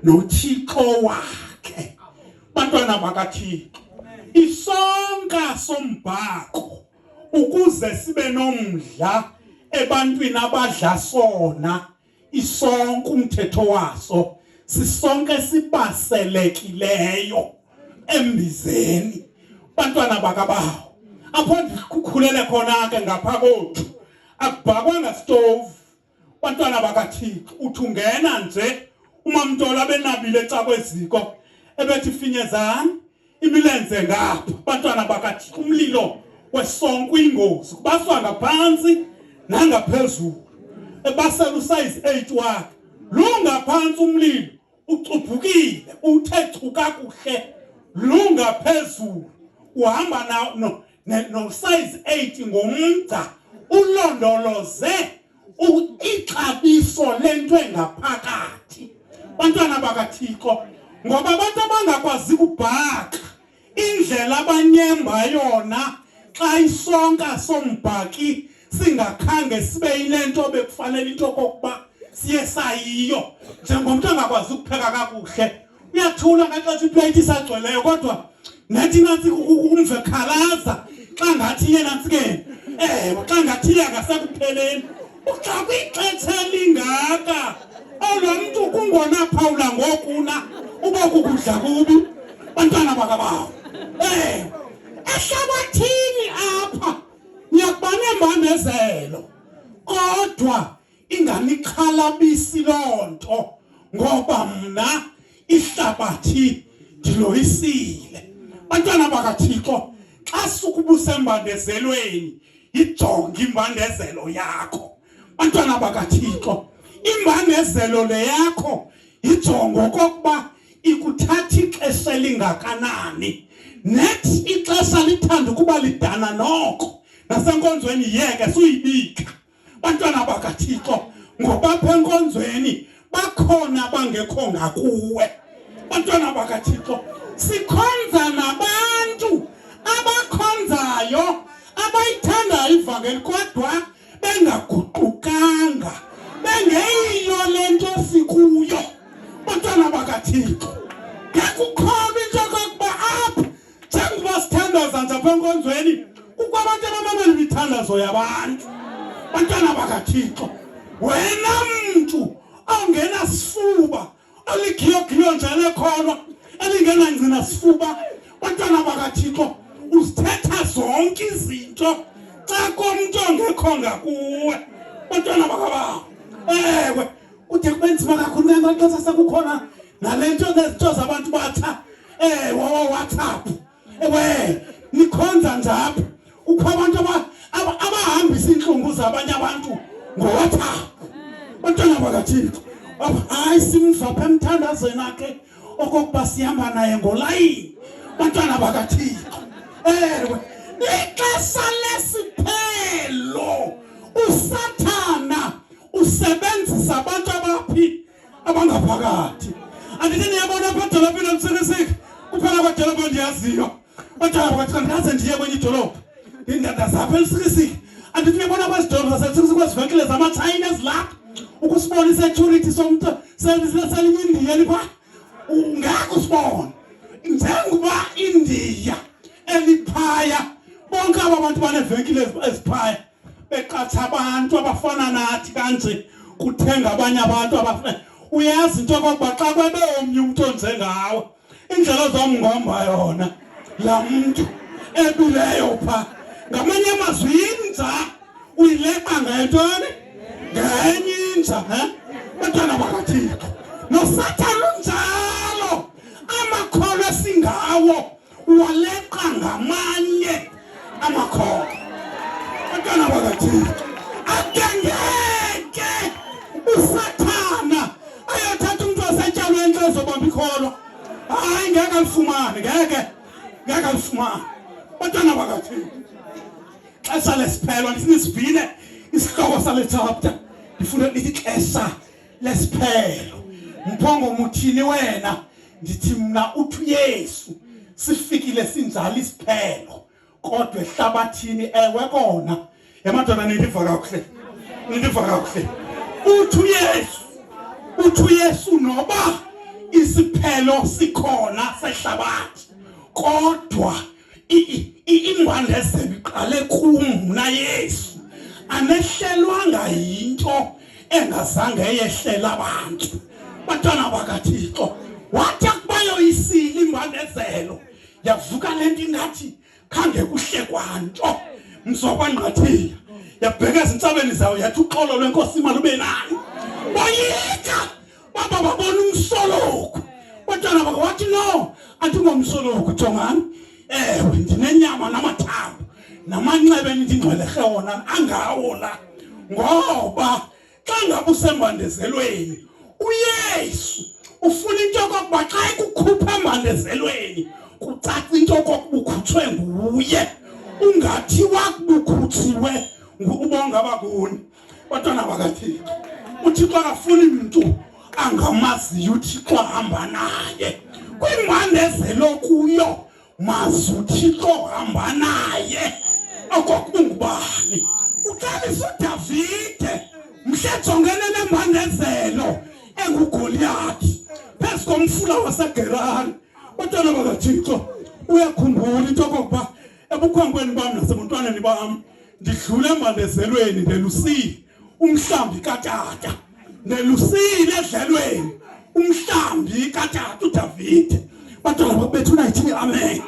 noThixo wakhe bantwana bakaThixo isonka sombhaqo ukuze sibe nomdla ebantwini abadla sona isonka umthetho waso sisonke sibaselekileyo embizeni bantwana bakabawo apho ndikhukhulele khona ke ngapha kothu akubhakwanga stove bantwana bakathixo uthi ungena nje umamntola benabile ecakweziko ebethi finyezani imilenze ngapha bantwana bakathixo umlilo wesonke uyingozi kubaswa ngaphansi nangaphezulu ebasela usayizi 8 wakhe lungaphansi umlilo ucuphukile uthe chu kakuhle lunga phezulu uhamba na no no size 8 ngomgca ulondoloze ixabiso lento engaphakathi bantwana bakaThixo ngoba abantu abangakwazi kubhaqa Indlela abanyemba yona xa isonka sombhaki singakhange sibe yilento bekufanele into kokuba siye sayiyo njengomntu angakwazi ukupheka kakuhle uyathula ngaxesha iplate isagcweleyo kodwa ngathi nansi umve khalaza xa ngathi yena nsikeni ewe xa ngathi yena ngasekupheleni Kuxa kwixetsha elingaka elwa mntu kungona phawula ngokuna uba kukudla kubi bantwana bakabawo um eh, ehlabathini apha niyakuba nembandezelo kodwa inganixhalabisi loo nto ngoba mna ihlabathi ndiloyisile bantwana bakathixo xa sukubusa embandezelweni yijonge imbandezelo yakho bantwana bakathixo imbandezelo le yakho yijongo kokuba ikuthatha ixesha elingakanani net ixesha lithanda ukuba lidana noko nasenkonzweni yeke suyibika bantwana bakathixo ngobapha enkonzweni bakhona bangekho ngakuwe bantwana bakathixo sikhonza nabantu abakhonzayo abayithandayo ivangeli kodwa bengaguqukanga bengeyiyo le nto sikuyo bantwana bakathixo ngekukho njengoba sithandaza nje apha enkonzweni kukho abantu abamamela imithandazo yabantu bantwana bakathixo wena mntu ongenasifuba oligiyogilo nje lekholwa elingenangcina sifuba bantwana bakathixo uzithetha zonke izinto xa komntu ongekho ngakuwe bantwana bakabawo ewe kude kube nzima kakhulu ke amaxesha sekukhona nale nto nezitho zabantu batha eh wawa whatsapp ewe nikhonza njapha ukho abantu abahambisa iintlungu zabanye abantu ngowhatsapp bantwana bakathixo hayi simva pha emthandazweni akhe okokuba sihamba naye ngolayini bantwana bakathixo ewe ixesha lesiphelo usathana usebenzisa abantu abaphi abangaphakathi andithi niyabona apha edolophini emsekeseki uphela kwadolophu endiyaziyo otshaya kwathi ndaze ndiye kwenye idolophu ndindada zapha elisikisiki andithi niyabona kwezidolophu zasesikisiki kwezivenkile zamatshayina ezilapha ukusibona isecurity somntu selinye indiya lipha ungeke usibone njengoba indiya eliphaya bonke aba bantu banevenkile eziphaya beqatsha abantu abafana nathi kanje kuthenga abanye abantu abafana uyazi into yokokuba xa kwebe omnye umntu onze ngawe indlela ozomngomba yona laa mntu ebileyo pha ngamanye amazwi yinza uyileqa ngentoni ngenye inja he bantwana bakathixo nosathana unjalo amakholwa singawo Waleqa ngamanye amakhoba abantwana bakathixo akengeke usathana ayothatha umntu wasetyalwe entle ezobamba ikholwa hayi ngeke alifumane ngeke ngeke alifumane bantwana bakathixo xesha lesiphelwa ndifuna isivile isihloko sale chapter ndifuna lithi xesha lesiphelo mphongo muthini wena ndithi mna uthi uyesu sifikile sinjalo isiphelo kodwa ehlabathini ewe kona yamadoda nindiva kakuhle nindiva kakuhle uthi uyesu uthi uyesu noba isiphelo sikhona sehlabathi kodwa ingwandezelo iqale kum mna yesu anehlelwanga yinto engazange yehlela abantu bantwana bakathixo wathi akubayoyisile imbandezelo yavuka le nto ingathi khange kuhle kwanto mzokwangqathile yabheka ezintsabeni zayo yathi uxolo lwenkosi imali ube nayo boyika baba babona umsoloku bantwana bakho wathi no andingomsoloku jongani ewe ndinenyama namathambo namanxebe endingcwelerhe wona angawo la ngoba xa ngaba usembandezelweni uyesu ufuna into yokokuba xa ekukhupha embandezelweni kucaca into yokokuba ukhutshwe nguye ungathi wakubukhutshiwe ngubonga bakuni bantwana bakathixo uthixo akafuni mntu angamaziyo uthixo ahamba naye kwimbandezelo kuyo mazi uthixo ohamba naye okokungubani uqalisa udavide mhle jongene nembandezelo engugoliyathi phezu komfula wasegerari bantwana bakathixo uyakhumbula into okokuba ebukhwenkweni bam nasebuntwaneni bam ndidlule embandezelweni ndelusile umhlambi katata ndelusile edlelweni umhlambi katata udavide bantwana bakubethu unayithini amen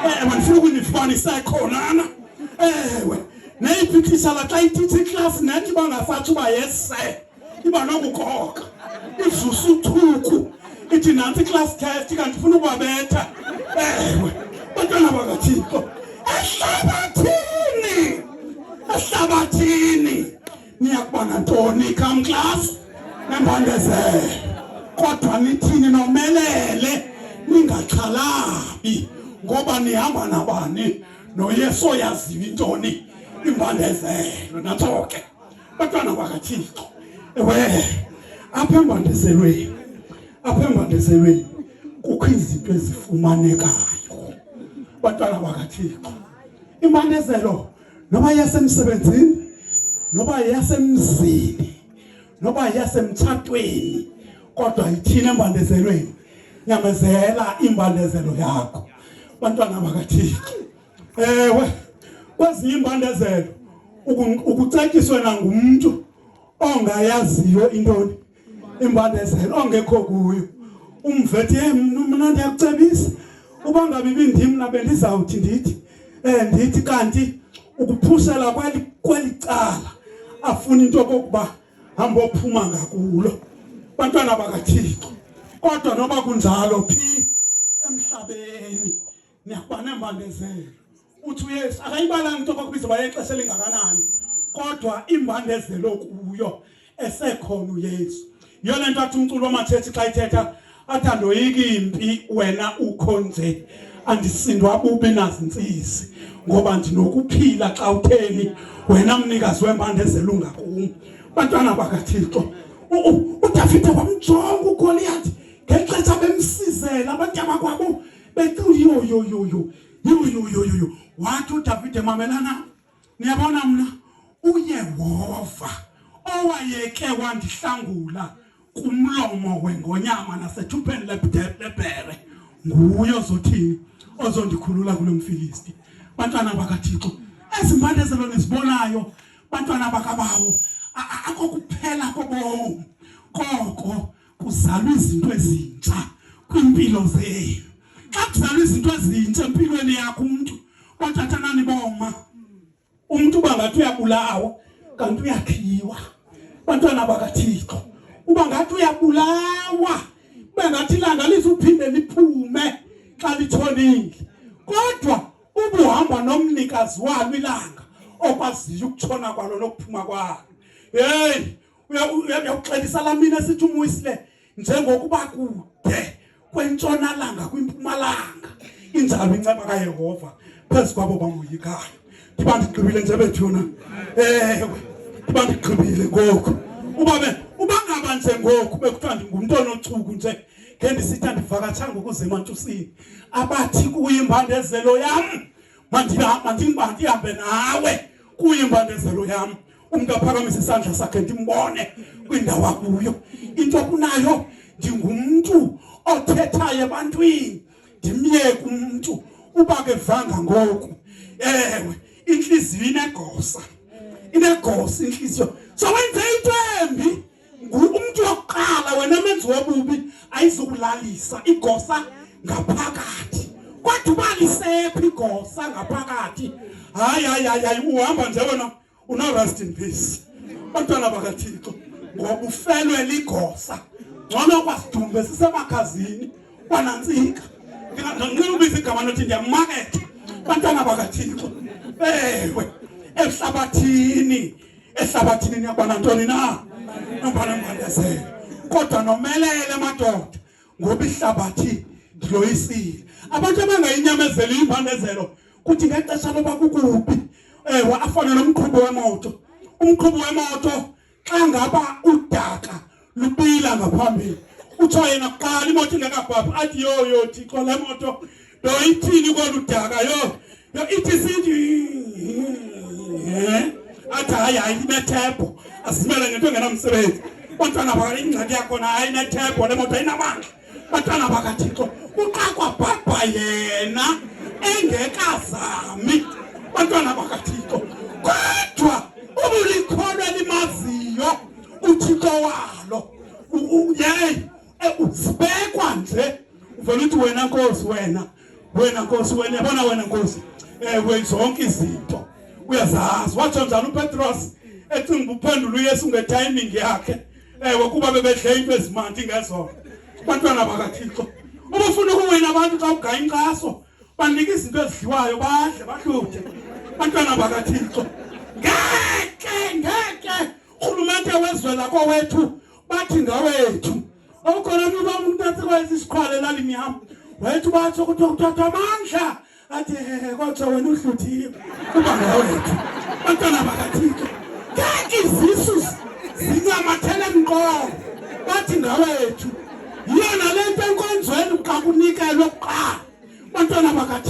ewe ndifuna ukunifumanisa ekhonana ewe neyiphikhisa la xa ithithi iklasi nethi bangafatsho uba yese iba nokukoka ivusa uthuku ithi nantsi i-class test kanti funa ukubabetha ewe bantwana bakathixo ehlabathini ehlabathini niyakuba nantoni come class nembandezele kodwa nithini nomelele ningaxhalabi ngoba nihamba nabani noyesu oyaziyo intoni imbandezelo natsoke Bantwana bakaThixo, ewe apha embandezelweni, apha embandezelweni kukho izinto ezifumanekayo. Bantwana bakaThixo, imbandezelo noba yasemsebenzini, noba yasemzini, noba yasemtshatweni, kodwa ithina embandezelweni nyamezela imbandezelo yakho bantwana bakathixo ewe kwezinye iimbandezelo ukucetyiswe nangumntu ongayaziyo intoni imbandezelo ongekho kuyo umvethi ye mna ndiyakucebisa uba ngabe ibindim na bendizawuthi ndithi um ndithi kanti ukuphusela kweli kweli cala afuna into yokokuba hambe ophuma ngakulo bantwana bakathixo kodwa noba kunjalo phi emhlabeni niyabona embandezelo uthi uyesu akayibalanga into kwakubiza uba yexesha elingakanani kodwa imbandezelo kuyo esekhona uyesu yiyo le nto athi umculo wamathethi xa ithetha athi andoyiki impi wena ukho nje andisindwa bubi nazintsisi ngoba ndinokuphila xa utheni wena mnikazi wembandezelo ungakum bantwana bakathixo udavide wamjonga ugoliyathi ngexesha bemsizela abantu abakwabo Betuli yo yo yo yo. Yo yo yo yo yo. Watu tafite mamelana. Niyabona mna uyehova owayeke wandihlangula kumlomo wengonyama nasethupheni lebhere nguye ozothini ozondikhulula kulo mfilisti bantwana bakathixo ezi mpande zelo nizibonayo bantwana bakabawo akokuphela kobomi koko kuzalwa izinto ezintsha kwimpilo zenu xa kuzalwa izinto ezintsha empilweni yakho umuntu bathathanani boma umuntu uba ngathi uyabulawa kanti uyakhiwa bantwana bakathixo uba ngathi uyabulawa ube ngathi ilanga lizuphinde liphume xa litshonile kodwa ubuhamba nomnikazi walo ilanga okwaziyo ukutshona kwalo nokuphuma kwalo heyi uyakuxelisa la mina sithi umwisile njengokuba kude kwentshonalanga kwimpumalanga injalo inceba kayehova phezu kwabo bamoyikayo ndiba ndigqibile nje bethuna ewe ndiba ndigqibile ngoku uba uba ngaba nje ngoku bekuthiwa ndingumntu onochuku nje ngendisitha ndivakatshanga ukuze emantusini abathi kuyimbandezelo yam mandihambe nawe kuyimbandezelo yam umntu aphakamise isandla sakhe ndimbone kwindawo akuyo into kunayo ndingumntu othethayo ebantwini ndimyeke umntu uba ke vanga ngoku ewe intliziyo inegosa inegosa intliziyo sowenze into embi ngumntu wokuqala wena menzi wobubi ayizukulalisa igosa ngaphakathi kodwa uba lisephi igosa ngaphakathi hayi hayi hayi hayi uhamba nje wena unorest in peace bantwana bakathixo ngoba ufelwe ligosa ngcono kwasidumbe sisemakhazini kwanantsika ndinganqina ubiza igama nothi ndiyamaketha bantwana bakathixo ewe emhlabathini ehlabathini niyakuba nantoni na noba nomandezelo kodwa nomelele madoda ngoba ihlabathi ndiloyisile abantu abangayinyamezeli impandezelo kuthi ngexesha loba kukubi ewe afane nomqhubi wemoto umqhubi wemoto xa ngaba udaka lupila ngaphambili kuthiwa yena kuqala imoto ingekabhabhi athi yo yo thixo le moto do ithini kolu daka yo yo ithi sithi athi hayi hayi inethebho asimele ngento engenamsebenzi bantwana bakala ingxaki yakhona hayi inethebho le moto ayinamandla Bantwana bakaThixo, uxakwa bhabha yena engekazami. Bantwana bakaThixo, kodwa ubulikholwa limaziyo uThixo walo. Yeyi, eh, sibekwa nje uvela uthi wena nkosi wena wena nkosi wena yabona wena nkosi ewe eh, zonke izinto uyazazi watsho njani upetros ecinga uphendula uyesu ngetayiming yakhe ewe eh, kuba bebedle into ezimandi ngezona abantwana bakathixo ubufuna ukuwina abantu xa ugaya inkxaso banika izinto ezidliwayo badle bahluthe abantwana bakathixo ngeke ngeke urhulumente wezwe lakowethu bathi ngawethu awukhona mntu uba umntu atsekwayenza isikhwala elalini yam wayethi ubatsho kuthiwa kuthathwa amandla athi hehe kwatsho wena uhluthiwe uba ngawethu bantwana bakathixo ngeke izisu zinyamathele mqolo bathi ngawethu yiyona le nto enkonzweni xa kunikelwe kuqala bantwana bakathixo